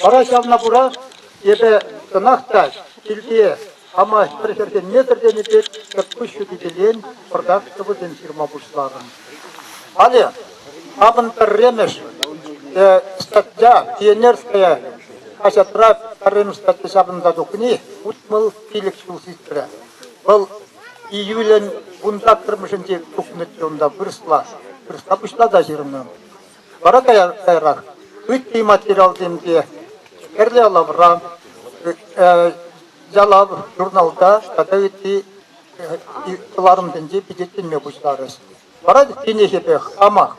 Вара ҫавна кура эпӗ кӑнах та килте хама пӗр хӗрхенмесӗр тенӗ пек кӑткӑс ҫутипелен пӑртак сӑвӑсем ҫырма пуҫларӑм. Халӗ хамӑн пӗрремӗш статья Пионерская хаҫатра пӗрремӗш статья ҫапӑнса тухни утмӑл пилӗк ҫул сисрӗ. Вӑл июлӗн вун саккӑрмӗшӗнче тухнӑччӗ унта вырӑсла. Вырӑсла пуҫла та ҫырнӑ. Вара каярах ытти материалсем те Хӗрлӗ лавра, Ялав журналта тата ытти кӑларӑмсенче пичетленме пуҫларӗҫ. Вара тинӗсӗпе хамах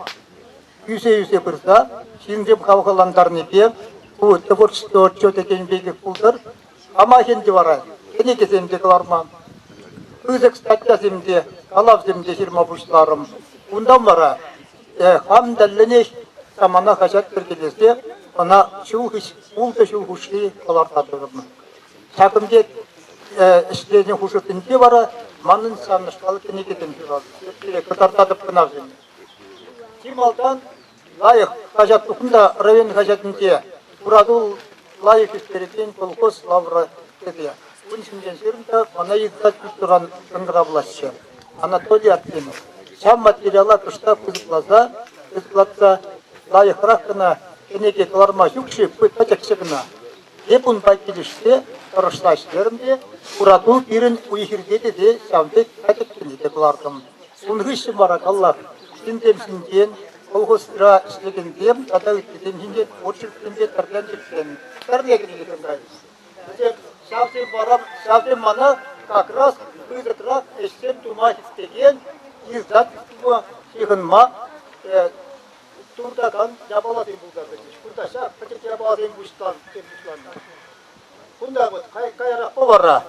ӳсе-ӳсе пырса ҫынсем хавхалантарнипе ку творчество отчетӗ тенӗ пекех пултӑр, амахӗн те вара кӗнекесем те кӑларман. Пысӑк статьясем те, калавсем те ҫырма пуҫларӑм. Унтан вара хам тӗллӗнех самана хаҫат йӗркелесе ӑна ҫул ултӑ ҫул хушши кӑлартатӑп. Ҫакӑн пек ӗҫленӗ хушӑрсенче вара манӑн савӑнӑҫлӑ кӗнекесем ҫуралнӑ. Кӑтартатӑп кӑна вӗсене. Чи малтан Лайӑх хаҫат укунда район хаҫатӗнче Хуратул лайӑх ӳстерекен колхоз лавракӗпе ун ҫинчен ҫырнӑ мана йӑтса кӳршӗран шӑнкӑравлаҫҫӗ Анатолий Артемов. Ҫав материала кӑштах пысӑкласа пысӑклатса лайӑхрах кӑна кӗнеке кӑларма ҫук-ши пытаччӗ кӑна. Эп унпа килӗшсе тӑрӑшлаҫ терӗм те хурату пирӗн уй-хирте тесе ҫав пек катӗккене те кӑлартӑм. Ун хыҫҫӑн вара, паллах, ҫынсем ҫинчен, колхозра ӗҫлекенсем тата ыттисем ҫинчен очерксем те тӗрленчӗксем, тӗрлекенсем кайҫҫӗ. Ҫавсем вара, ҫавсем мана как раз пысӑкрах ӗҫсем тума хистекен издательство ҫыхӑнма туртакан япаласем пулса тӑчӗҫ. Кунта ҫак пӗчӗк япаласем пуҫтан пуҫланнӑ. Кунта вот каярах повара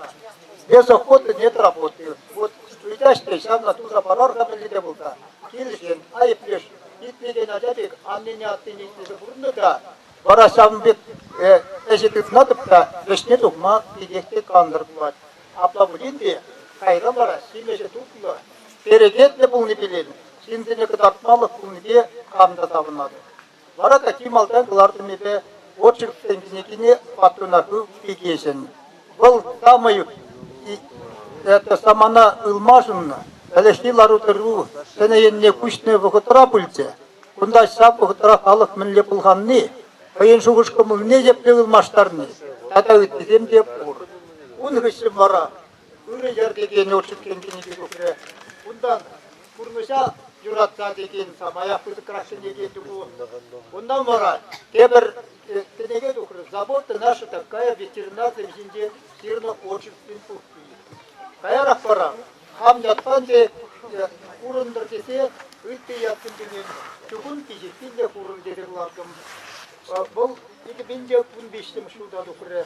Бесоход недработы. Вот ыйтаҫ те ҫавна туса парар-ха пӗлнӗ те пулса. Килсен айӑплеш итлекен ача пек аннене аттене итлесе пурӑннӑ та вара ҫавӑн пек ӗҫе тытматӑп та вӗҫне тухма питех те кантӑр пулать. Апла пулин те кайра вара ҫимӗҫӗ тутлӑ, перекетлӗ пулни пӗлен. Ҫынсене кӑтартмалӑх пулнипе кам та савӑнатӑп. Вара та чи малтан кӑлартӑмӗпе очерксен кӗнекине патруна хыв Фикеҫӗн. Вӑл самай это самана ылмашӑннӑ ӗлӗкхи лару-тӑру ҫӗнӗ енне куҫнӑ вӑхӑтра пулчӗ. Кунта ҫав вӑхӑтра халӑх мӗнле пӑлханни, хӑйӗн шухӑш-кӑмӑлне епле ылмаштарни тата ыттисем те пур. Ун хыҫҫӑн вара ырӑ йӗр текен отчетсем ҫине тухрӗ. Унтан пурнӑҫа юратса текен самая пысӑкрах кӗнеке тупу. Унтан вара тепӗр кӗнеке тухрӗ. Забота наша такая ветеринарсем ҫинче ҫырнӑ отчетсен пуххи. Каярах вара хам ятпан те курӑнтӑр тесе ытти ятсем ҫине чукун пиҫиххин те курӑн тесе кӑлартӑм. Вӑл 2015 ҫулта тухрӗ.